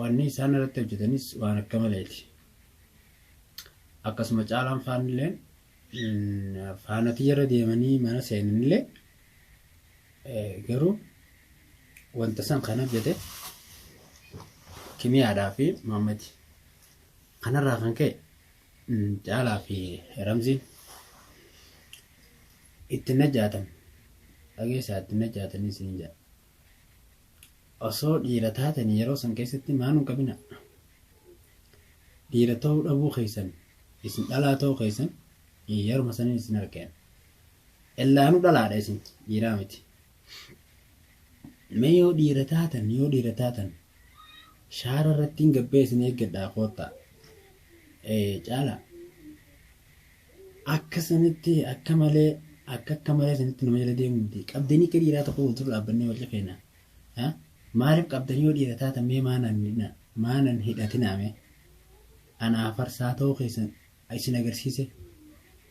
Wanni isaan irratti hojjetanis waan akka maleeti. Akkasuma caalaan faanilleen faanatii irra deemanii mana seenanillee garuu wanta san kan hojjete kimiyaadhaa fi maammati. Kanarraa kan ka'e caalaa fi ramziin itti najjaatan dhageessaa itti najjaatanii siin jedha. Osoo dhiira taatanii yeroo san keessatti maa nun qabinaa? Dhiira ta'uu dhabuu keessan isin dhalaa ta'uu keessan yeruma sanin isin argeen. Ellaanuu dhalaadha isin dhiiraa miti. Mee yoo dhiira taatan yoo dhiira taatan shaara irrattiin gabbee isin eeggadhaa koottaa. Ee caalaa. Akka isinitti akka malee akka akka malee isinitti nama jala deemu miti. Qabdanii akka dhiiraa tokko wal dura dhaabbannee wal cafeena. Ha? Maaliif qabdanii yoo dhiira taatan mee maa nan hidhina- maa nan hidhatinaa mee? Ana afarsaa ta'uu keessan isin agarsiise.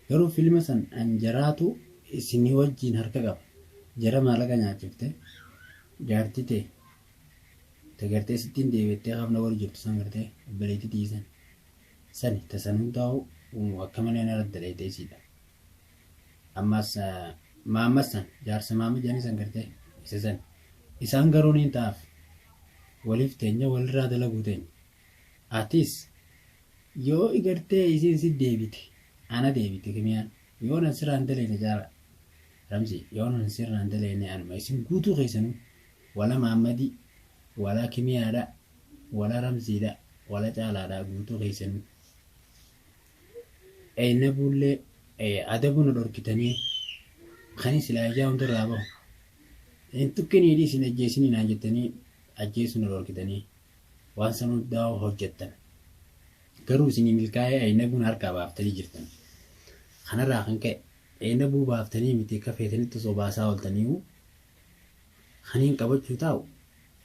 Garuu filma san an jaraatu isinii wajjiin harka qaba. Jara maalaqa nyaachifte jaartii tee ta gartee sittiin deebi'attee hafna wali jirtu san gartee obboleettii tiyya san. Sani ta san hundahu akka malee nara dalayde isiidha. Ammas maamma san jaarsa maamma jedhanii san gartee isa san isaan garuu niin ta'aaf waliif teenya walirraa dalaguu teenya. Atis yoo igartee isiin si deebite ana deebite kimiyaan yoo nan sirraan dalayne jaara ramzi yoo nan sirraan dalayne anuma isin guutuu keessanuu wala maammadii wala kimiyaadha Wal aramsiidha wala caalaadha guutuu keessanuu ee na buullee ee adabu na dhorkitanii kani silaa ijaa hundarraa bahu hin tuqinii dhiisi hin ajjeesinii naan jettanii ajjeesu na dhorkitanii waan san hundaa hojjettan garuu isinii milkaa'ee aynabuun harkaa baaftanii jirtan kanarraa kan ka'e aynabuu baaftanii miti akka feetanitti osoo baasaa ooltaniiwu kaniin qabachuu taa'u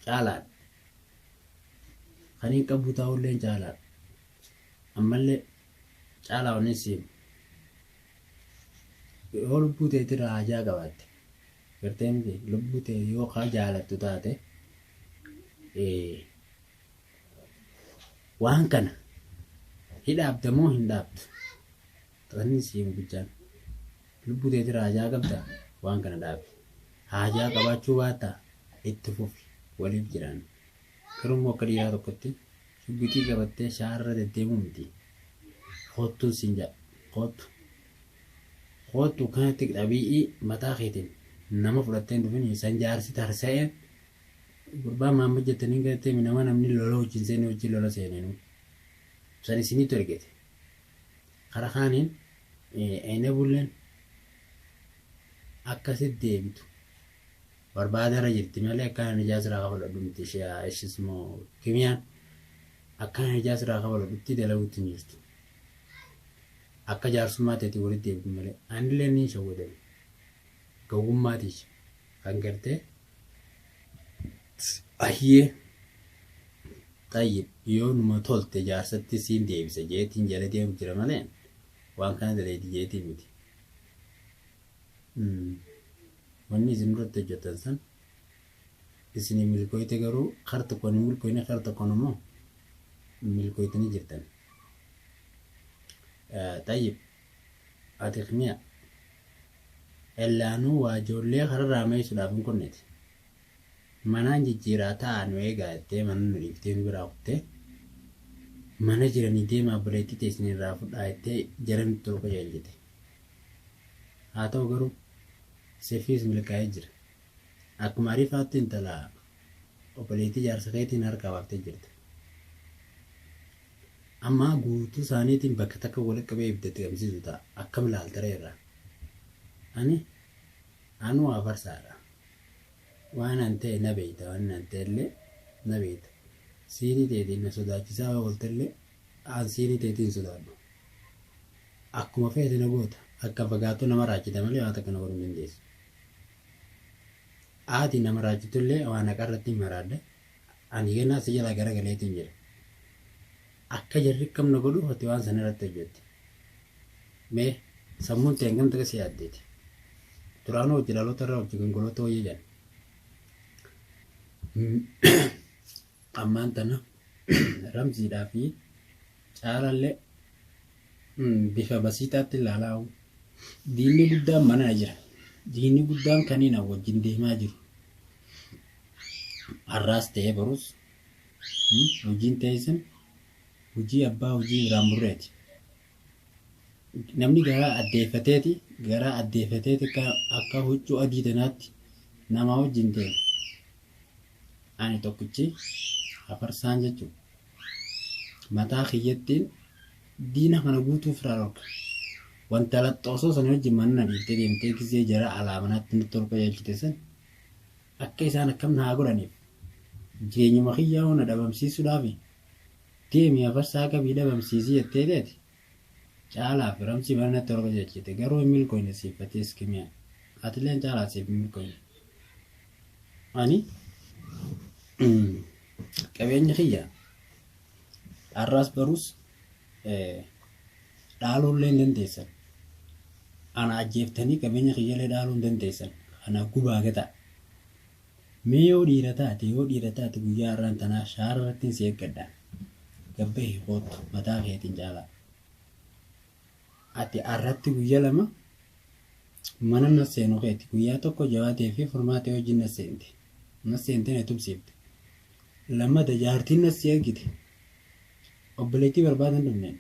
caalaadha kan hin qabbu taa'ulleen caalaadha. Ammallee caalaa wanni si himu. Yoo lubbuu teetirraa hajaa qabaatte gartee miti lubbuu tee yoo kaa jaalattu taate waan kana hidhaabda moo hin dhaabdu? Xaxanni sii gubichaan. Lubbuu teetira hajaa qabda waan kana dhaabi. Haajaa qabaachuu baatta itti fufi waliif jiraanna. Garuu immoo akka dhiiraa tokkotti shugguxii qabattee shaarra deddeemuu miti. Koottuun siin jedha. Koottu. Koottu kana tik dhabii'ii mataa keetiin nama fudhattee hin dhufini san jaarsi tarsa'een gurbaa Mahammad jettaniin galattee mi nama namni lola wajjin seene wajjin lola seeneenuu. San isiniitu ergete. Kara kaaniin enablen akka sit deebitu barbaadara jirti malee akkana nijaa siraa kafalodhu miti shiyaa ishis moo kimiyaan akkana nijaa siraa kafalodhutti dalagutti hin jirtu akka jaarsummaa teeti walitti deebitu malee anillee niin shawwadame gowwummaa tiyya kan gartee Ayyee xayyib yoo numa tolte jaarsatti siin deebisa jeetiin jala deemu jira malee waan kana daleedi jeetii miti. Wanni isin irratti hojjetan san isinii milkooyte garuu kar tokkoon hin milkooyne kar tokkoon immoo milkooytanii jirtan. Xayyib Ati kmiya. Ella anuu waa joollee kararraa meeysudhaaf hin kunneti. Manaan jijjiiraa ta'aa nu eegaa jettee mana nu dhiiftee nu biraa kuttee. Mana jiranii deemaa obboleettii teeysan irraa fudhaa jettee jara nutti ol qajeelchite. Haa ta'u garuu sifiis milkaa'ee jira. Akkuma Ariifaattu intala obboleettii jaarsa keetiin harkaa baaftee jirta. Amma guutuu isaaniitiin bakka takka walitti qabee ibiddatti gamsiisu ta'a. Akkam ilaalta ree irraa? Ani anuu afarsaadha. Waan an ta'e na beekta, waan an ta'e illee na beekta. Siinii teetiin na sodaachisaa yoo oolte illee an siinii teetii hin sodaadhu. Akkuma feete na goota. Akka fagaattuu na maraachita malee waa takka na godhuu hin dandeessu. Ati na maraachitullee waan haqaa irratti hin maraadde, ani ganaa si jalaa garagaleetiin jira. Akka jarri akkam na godhuuf ati waan san irratti hojjette. Mee sammuun tee hangam takka si yaaddeeti? Duraanuu hojji dhaloota irraa hojji gongolootaa wayya jedhan. Ammaan tana Ramziidhaa fi Caalaalle bifa basiixaatti ilaalaa diinni guddaan manaa jira. Diinni guddaan kaniina wajjin deemaa jiru. Har'aas ta'ee barus hojiin teessan hojii abbaa hojii biraan burreeti. Namni garaa addeeffateeti garaa addeeffateeti akka huccuu adii tanaatti namaa wajjin deema. Ani tokkichi hafarsaan jechuudha. Mataa kiyyattiin diina kana guutuu ofirraa dhorka. Wanta laxxoo osoo sana wajjin manna dhiiftee deemtee gizee jara alaa manaatti nutti ol qajeelchite san akka isaan akkam na haa godhaniif jireenyuma kiyyaa hoo na dhabamsiisuudhaafi deemi hafarsaa qabii dhabamsiisii jettee teeti Caalaa fi ramsii mana natti ol qajeelchite garuu hin milkooyne siif fatiis kimiyaa atileen caalaa siif hin milkooyne ani qabeenyi kiyya dharraas baruus dhaaluu illee hin dandeessan ana ajjeeftanii qabeenya kiyyalee dhaaluu hin dandeessan kana gubaa gataa Mee yoo dhiira taate yoo dhiira taate guyyaa har'aan tanaa shaara irrattin si eeggadha gad bahi koottu mataa keetin caalaa ati har'atti guyya lama mana na seenu keeti guyyaa tokko jawaatee fi furmaa ta'e wajjin na seente na seente na tumsiifte lammata jaartiin na si ergite obboleettii barbaadan dhumne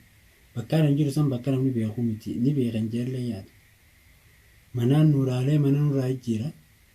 bakkaan hin jiru san bakka namni beekuu miti ni beekan jeellee yaadu manaan nuuraalee mana nurraa jijjiira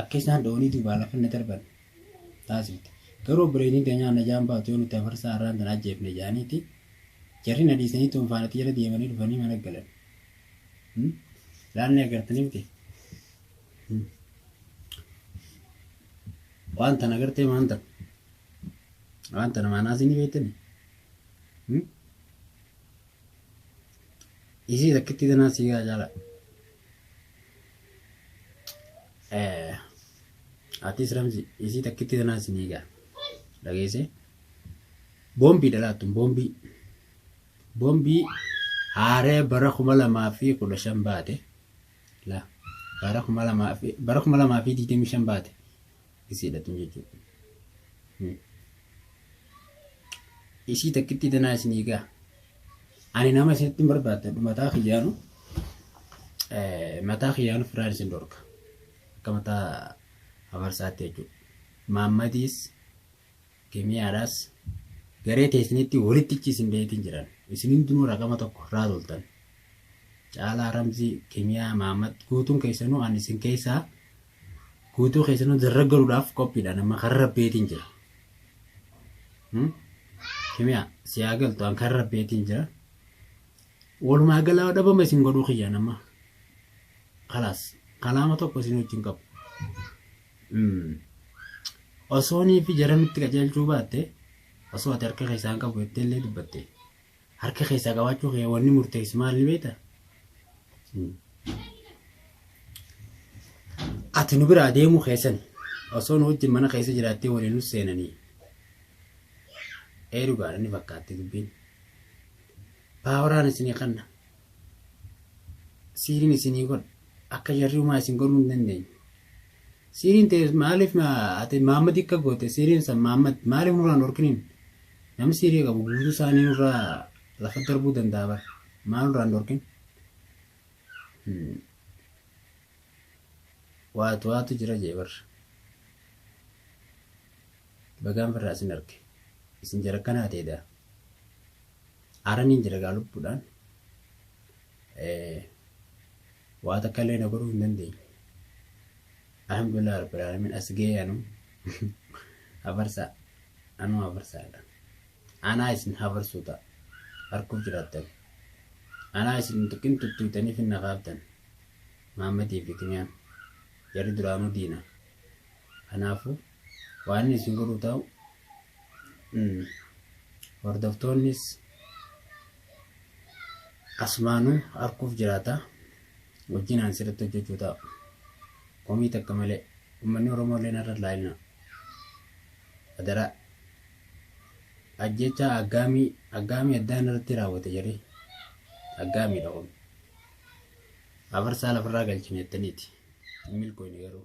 Akka isaan doonii duubaa lafa na darban taasifte. Garuu obboleeytiin teenyaa najaan baatu yoo nuti hafarsaa arraan tana ajjeefne ja'aniiti jarri na dhiisanii xuunfaan ati jala deemanii dhufanii mana galan. Laal ni agartanii miti? Waan tana agartee maan tana? Waan tana maanaa isin beektani? Isii takkittii tanaa sii gaa caalaa. Atis Ramzi isii takkitti tanaa sinii gaa dhageessee boombii dhalaattuun boombii boombii haaree bara kuma lamaa fi kudha shan baate la bara kuma lamaa fi bara kuma lamaa fi digdamii shan baate isiidha tun jechuudha. Isii takkittii tanaa isinii gaa. Ani nama isinitti hin barbaadadhu mataa kiyyaanu mataa kiyyaanu firaan isin dhorka. Akka mataa hafarsaatti jechuudha. Maammadiis kimiyaadhaas garee teessinitti walitti ichi isin beetiin jiran. Isin hundinuu raqama tokko irraa toltan. Caalaa Ramzii kimiyaa maammad guutuun keessanuu ani isin keessaa Guutuu keessanuu darraggaruudhaaf qophiidha nama kan rabbeetiin jira. Kimiyaa si haa galtu an kan rabbeetiin jira. Walumaa galaa dhabama isin godhuu kiyya nama. Kalaas kalaama tokko isin wajjin qabu. Osoonii fi jara nutti qajeelchuu baatte osoo ati harka keessaan qabu jettee illee dubbatte. Harka keessaa qabaachuu kee wanni murteessu maal ni beekta? Ati nu biraa deemuu keessan osoo nu wajjin mana keessa jiraattee waliin nu seenanii. Ee dhugaadha ni fakkaatti dubbiin. Paawaraan isinii kanna. siiriin isinii godha akka jarri umaa isin godhuu hin dandeenye. Siiriin ta'e maaliif ati Maammad akka goote siiriin san Maammad maaliif nurraa hin dhorkiniin namni siirii qabu guutuu isaanii nurraa lafa darbuu danda'a bara maal nurraa hin dhorkin. Waatu waatu jira jee bara. Bagaan firraa isin arge isin jara kanaa ta'edha. Aara niin jira egaa lubbuudhaan waa takka illee na godhuu hin dandeenye. Alhamdulillah Rabbil Aalamiin as ga'ee anuu hafarsaa anuu hafarsaadha. Anaa isin hafarsuu ta'a harkuuf jiraattan. Anaa isin tuqin tuttuutanii finna kaaftan. Maammadii fi Kiniyaan jarri duraanuu diina. Kanaafuu waan inni isin godhu ta'u hordoftoonnis asumaanuu arguuf jiraata wajjin aan sirriitti hojjechuu ta'a komii takka malee uummanni oromoo illee narra laayina adaraa ajjechaa aggaamii aggaamii addaan irratti raawwate jedhee aggaamiidha kun afarsaa lafarraa galchine jettaniiti hin milkooyne garuu